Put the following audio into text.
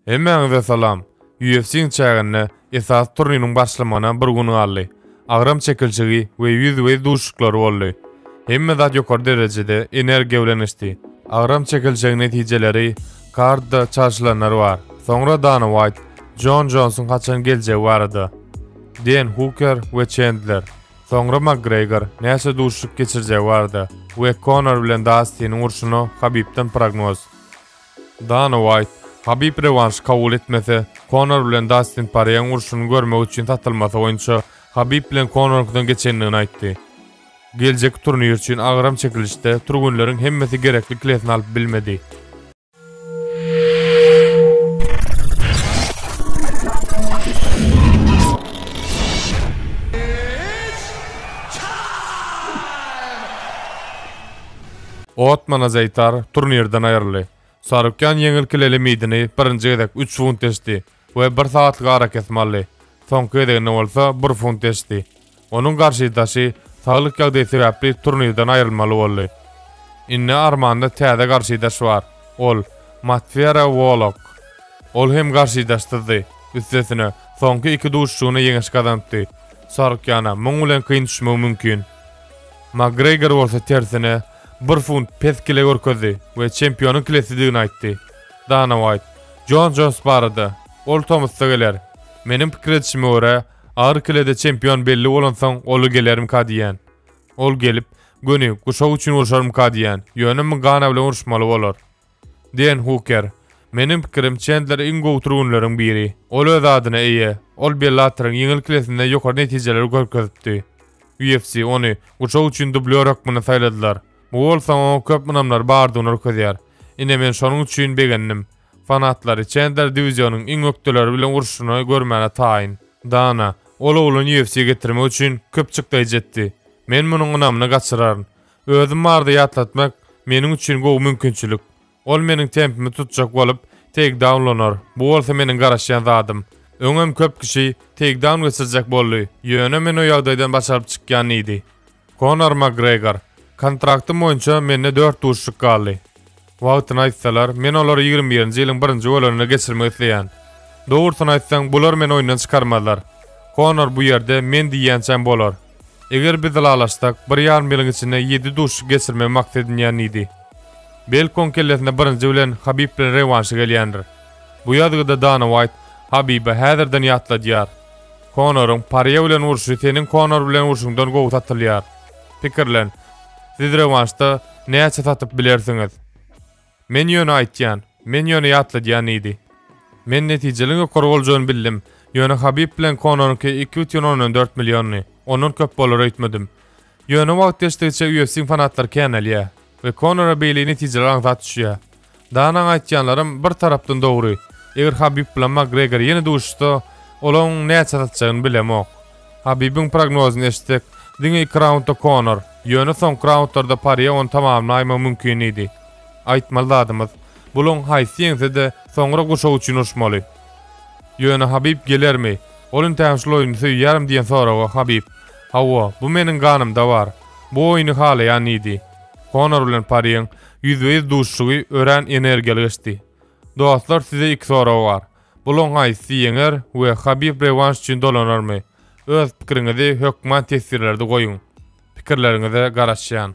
Hemmäňize salam! UFC-iň çäginde esasy turniriň başlamagyna bir gün galdy. Agram çekilişigi we ýüzbe-ýüz duşuşyklary boldy. Hemme zat ýokary derejede energiýa bilen geçdi. Agram çekilişigiň netijeleri kardda çalşylanlar bar. Soňra Dana Waýt, Jon Jonsuň haçan geljegi barada. Den Huker we Çendler. Soňra Makgregor näçe duşuşyk geçirjegi barada we Konor bilen Dastiniň urşuna Habibden prognoz. Dana Uaýt, Habib rewanşy kabul etmese, Konor bilen Dastin Porýeň urşuny görmek üçin satylmasy boýunça Habib bilen Konorňkydan geçendigini aýtdy. Geljeki turnir üçin agram çekilişde türgenleriň hemmesi gerekli kilesini alyp bilmedi. Otman Azaitar turnirden aýryldy. Sarukýan ýeňil kileli meýdany birinji gezek üç funt eşdi we bir sagatlyk arakesme aldy, soňky gezeginde bolsa bir funt eşdi. Onuň garşydaşy saglyk ýagdaýy sebäpli turnirden aýrylmaly boldy. Indi Armanda täze garşydaş bar, ol, Matfera Wolok. Ol hem garşydaşsyzdy, üstesine, soňky iki duşuşygyna ýeňiş gazanypdy. Sarukýana muň bilen kyn düşmegi mümkin. Makgregor bolsa tersine, bir funt pes kile görkezdi we çempionyň kilesidigini aýtdy. Dana Waýt, Jon Jons barada, Ol tomusda geler. Meniň pikir edişime görä, agyr kilede çempion belli bolansoň ola gelermika diýýän. Ol gelip, göni, guşak üçin urşarmyka diýýän, ýöne Mgana bilen uruşmaly bolar. Dean Huker, Meniň pikirim, Çendler iň gowy türgenleriň biri. Ol öz adyna eýe. Ol Bellatoryň ýeňil klesinde ýokary netijeleri görkezipdi. UFC ony guşak üçin dublýor hökmünde saýladylar. Bu bolsa oňa köp ynamlary bardygyny ürkezýär. Ine men şonuň üçin begendim. Fanatlary Çendler diwizionyň iň ökdeleri bilen uruşyny görmäne taýyn. Dana, Ol ogluny UFC-ýe getirmek üçin köp çykdaýjy etdi. Men munuň ynamyny gaçyraryn. Özüm barada ýatlatmak meniň üçin gowy mümkinçilik. Ol meniň tempimi tutjak bolup, teýkdaun lanar, bu bolsa meniň garaşýan zadym. Öňem köp kişi teýkdaun geçirjek boldy, ýöne men o ýagdaýdan başaryp çykýan diýdi. Konor Makgregor, Kontraktym boýunça mende dört duşuşyk galdy. Wagtyny aýtsalar, men olary ýigrimi birinji ýylyň birinji bolanynda geçirmek isleýän. Dogrusyny aýtsaň, bular meni oýundan çykarmazlar. Konor bu ýerde men diýýänçäm bolar. Eger biz ylalaşsak, bir ýarym ýylyň içinde ýedi duşuşyk geçirmegi maksat edinýän diýdi. Belki oň kellesine birinji bilen Habib bilen rewanşy gelýändir. Bu ýazgyda Dana Waýt Habibe häzirden ýatladýar. Konoryň Parýe bilen urşy seniň Konor bilen urşuňdan gowy satylýar. Pikirlen, Siz rewanşda näçe satyp bilersiňiz? Men ýöne aýtýan, men ýöne ýatladýan diýdi. Men netijeliň ýokary boljagyny bildim, ýöne Habib bilen Kononyňky iki bütin ondan dört milliony, ondan köp bolar öýtmedim. Ýöne wagt geçdigiçe UFC-iň fanatlary känelýär we Konora beýle netijeler aňsat düşýär. Danaň aýtýanlarym bir tarapdan dogry. Eger Habib bilen Makgregor ýene duşuşsa, olaň näçe satjagyny bilemok. Habibiň prognozyny eşitsek, diňe iki raundda Konor, ýöne soňky raundlarda Parýe ony tamamlaýmagy mümkin diýdi. Aýtmaly zadymyz, bulaň haýsy ýeňse-de, soňra guşak üçin urşmaly. Ýöne Habib gelermi? Ol entägem şul oýny söýýärin diýen soraga Habib, Hawa, bu meniň ganymda bar. Bu oýny halaýan diýdi. Konor bilen Parýeň Ýüzbe-ýüz duşuşygy örän energiýaly geçdi. Dostlar size iki sorag bar. Bulaň haýsysy ýeňer we Habib rewanş üçin dolanarmy? Öz pikiriňizi hökman tesirlerde goýuň. Pikirleriňize garaşýan.